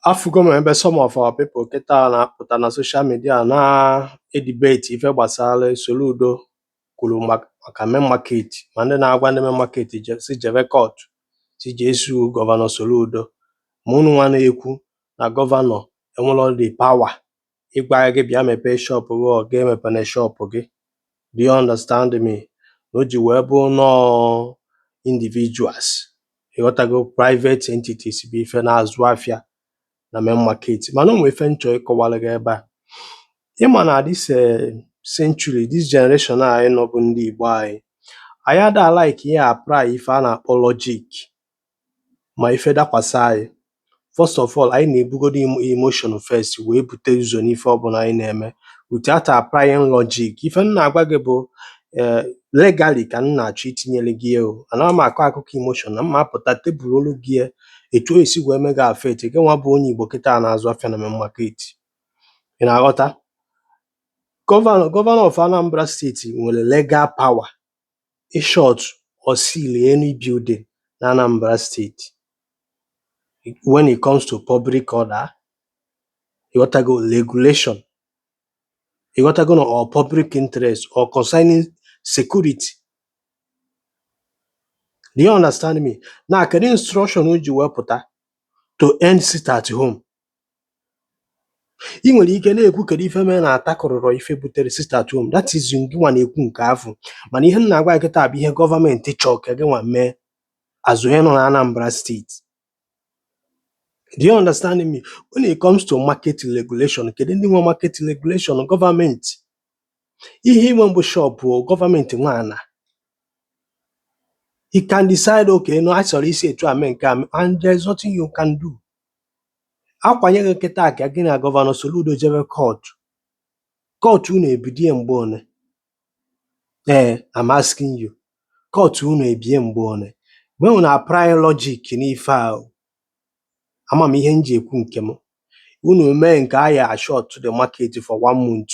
afụgo m ebe some of our people kịta na-apụta na social media na-edibeti ife gbasara Soludo kwuru mak- maka main market ma ndị na-agwa ndị main market je- si jebe court si jee sue gọvanọ Soludo ma unu nwa na-ekwu na gọvanọ enwero the power ịgwa gị bịa mepee shop gị or gị emepene shop gị do you understand me na o ji wee bụrụ na ọ individuals ịghọtago private entities bụ ife na-azụ afịa na main market mana o nwee ife m chọ ịkọwara gị ebe a ị ma na this eh, century this generation a anyị nọ bụ ndị Igbo anyị anyị ada like ị-apply ife a na-akpọ logic ma ife dakwasa anyị first of all anyị na-ebugodo emotion first wee bute ụzọ n'ife ọbụla anyị na-eme without applying logic ife m na-agwa gị bụ eh, legally ka m na-achọ itinyere gị ya o ana m akọ akụkọ emotion na mma apụta tebụl olu gị ya etu o si wee mee gị affect gị nwa bụ onye Igbo kịta na-azụ afịa na main market ị na-aghọta gọvanọ gọvanọ of Anambra steeti nwere legal power in short or seal any building na Anambra State when it comes to public order ịghọtago regulation ịghọtago na or public interest or concerning security do you understand me na kedu instruction o ji wepụta to end sit at home i nwere ike na-ekwu kedu ife mere na atakụrụrọ ife butere sit at home that is ngịnwa na-ekwu nke afụ mana ihe m na-agwa gị kịta bụ ihe gọọmenti chọọ ka gịnwa mee as onye nọ na Anambra steeti do you understand me when it comes to market regulation kedu ndị nwe market regulation gọọmenti ihe i nwe bụ shọpụ gọọmenti nwe ana he can decide okay na ọ chọrọ isi etu a mee nke a mee, and there is nothing you can do a kwanye gị kịtaa ka gị na gọvanọ Soludo jebe kọtụ kọtụ unu ebidie mgbe one ee I'm asking you kọtụ unu ebie mgbe one mgbe unu apply logic n'ife ahụ ama m ihe m ji ekwu nke m unu mee nke a ya ashọtụọ the market for one month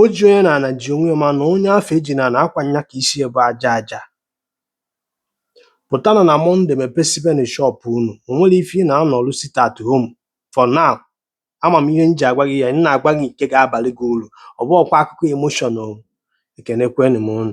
O ji onye n'ana ji onwe ya mana onye afụ e ji n'ana ọkwa nya ka isi e bụ aja aja. Pụtanụ na Mọnde mepesibenụ shop unu. O nwero ife ị na-anọlụ sit at home for now. Ama m ihe m ji agwa gị ya, m na-agwa gị nke ga-abalị gị uru. Ọ bụghọkwa akụkọ emotion o. Ekenekwenụ m unu.